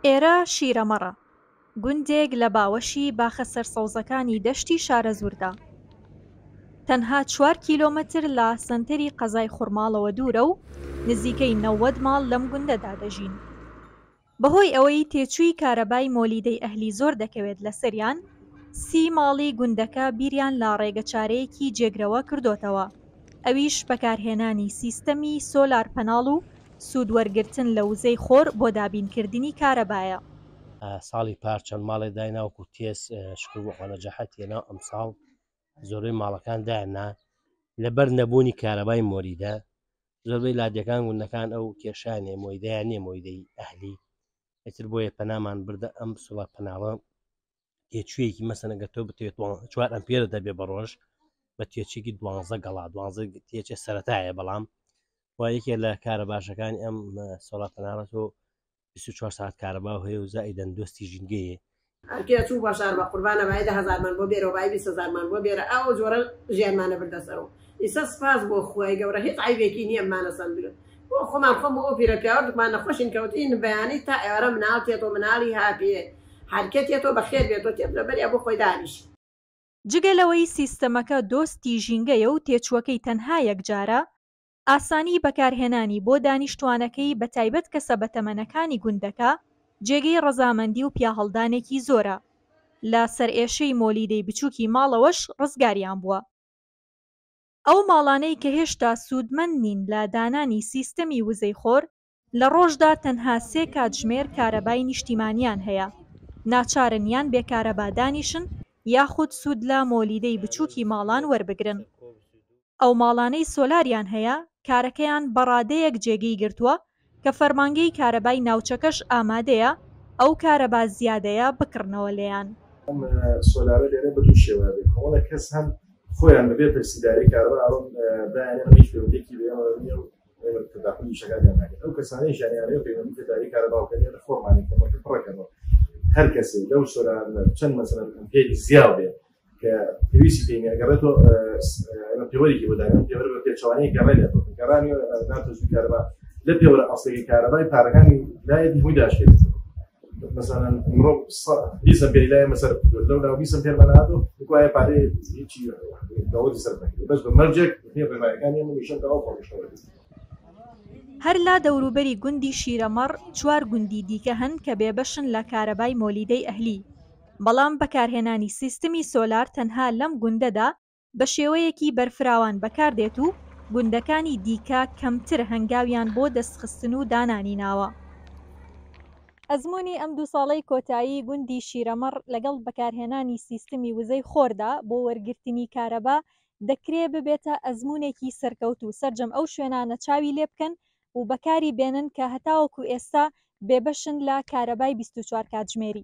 ئێرە شیرەمەڕە، گوندێک لە باوەشی باخە سەرسەوزەکانی دەشتی شارەزووردا. تەنها چوار کیلۆمەتر لە سەنتەری قەزای خورماڵەوە دوورە و نزیکەی نەوەد ماڵ لەم گوندەدا دەژین. بەهۆی ئەوەی تێچووی کارەبای مۆلیدەی ئەهلی زۆر دەکەوێت لەسەریان، سی ماڵی گوندەکە بیریان لە ڕێگەچارەیەکی جێگرەوە کردۆتەوە، ئەویش بەکارهێنانی سیستەمی سۆلار پەناڵ و سوود وەرگرتن لە وزەی خۆر بۆ دابین کردنی کارەبایە. ساڵی پار چەند ماڵێ داینا وەکو تێس شکر بۆ خوا نەجاحەت هێنا ئەمساڵ زۆربەی ماڵەکان دایاننا لەبەر نەبوونی کارەبای مۆریدە زۆربەی لادێکان گوندەکان ئەو کێشەیان هەیە مۆیدەیان نییە مۆیدەی ئەهلی ئیتر بۆیە پەنامان بردە ئەم سڵە پەناوە تێچوویەکی مەسەن ئەگەر تۆ بتوێت چوار ئەمپێرە دەبێ بە ڕۆژ بە تێچێکی دوانزە گەڵا دوانزە تێچێ سەتایە بەڵام و یەکێ لە کارە باشەکانی ئەم سۆڵات تەنارەت و 24 ساعت کارەبا و هەیە و زای دەندۆستی ژینگەیە ئەرکێ چوو بەشار بە قوربانە بای دە هەزارمان بۆ بێرەوە بای بیست هەزارمان بۆ بێرە ئەو جۆرە ژیانمانە بردە سەرەوە ئیسە سپاس بۆ خوای گەورە هیچ عەیبێکی نییە مانە سەندرن بۆ خۆمان خۆم ئەو پیرە پیاوەتمان نەخۆشین کەوتین بەیانی تا ئێوارە مناڵ تێتۆ مناڵی هاپیێ هەرکێ تێتۆ بەخێر بێتۆ تێت لە بەریا بۆ خۆی دانیش. جگە لەوەی سیستەمەکە دۆستی ژینگەیە و تێچووەکەی تەنها یەکجارە، ئاسانی بەکارهێنانی بۆ دانیشتووانەکەی بەتایبەت کەسە بەتەمەنەکانی گوندەکە جێگەی ڕەزامەندی و پیاهەڵدانێکی زۆرە، لە سەرئێشەی مۆلیدەی بچووکی ماڵەوەش ڕزگاریان بووە. ئەو ماڵانەی کە هێشتا سوودمەند نین لە دانانی سیستەمی وزەی خۆر، لە ڕۆژدا تەنها سێ کاتژمێر کارەبای نیشتیمانییان هەیە، ناچارن یان بێ کارەبا دانیشن یاخود سوود لە مۆلیدەی بچووکی ماڵان وەربگرن. ئەو ماڵانەی سۆلاریان هەیە، کارەکەیان بە ڕادەیەک جێگەی گرتووە، کە فەرمانگەی کارەبای ناوچەکەش ئامادەیە ئەو کارەبا زیادەیە بکڕنەوە لێیان. ئەم سۆلارە لێرە بە دوو شێوە دەبێت، کۆمەڵێک کەس هەن خۆیان بەبێ پرسیداری کارەبا ئەوێن دایەنێن و هیچ پەیوەندییەکی بە ئێمەوە نییە و ئێمە تەداخولی وشەکانیان ناکەین، ئەو کەسانەیشیان یانەوێت پەیوەندی بە داری کارەبا بکەن یانە خۆمانین کەمەکە پڕەکەنەوە، هەر کەسێک لەو سۆلارە چەند مەسەلەن ئەمپێری زیا بێت، کە پێویستی پێ ئەگەڕێتەوە پێوەرێکی بۆداگەن پێوەر بە پێچوانەیە گەڕێ لە گەڕانی ناتۆزوی کارەبا لە پێوەرە ئەسڵی کارەبای پارەکانی لایەت هەمووی داشێت مثلا مرۆ بیسە پێ لای مەسەر لەو لا بیسە پێمەناتۆ وایە پارەیە هیچی دەوەی سەر بەس بە مەرجێک پێ بەمایەکانی من نیشە داوا خۆشەوە هەر لا دەوروبەری گوندی شیرەمەڕ چوار گوندی دیکە هەن کە بێبەشن لە کارەبای مۆلیدەی ئەهلی بەڵام بەکارهێنانی سیستمی سۆلار تەنها لەم گوندەدا بە شێوەیەکی بەرفراوان بەکاردێت و گوندەکانی دیکە کەمتر هەنگاویان بۆ دەستخستن و دانانی ناوە. ئەزموونی ئەم دوو ساڵەی کۆتایی گوندی شیرەمەڕ لەگەڵ بەکارهێنانی سیستمی وزەی خۆردا بۆ وەرگرتنی کارەبا دەکرێ ببێتە ئەزموونێکی سەرکەوتوو سەرجەم ئەو شوێنانە چاوی لێبکەن و بەکاری بێنن کە هەتاوەکو ئێستا بێبەشن لە کارەبای بیست و چوار کاتژمێری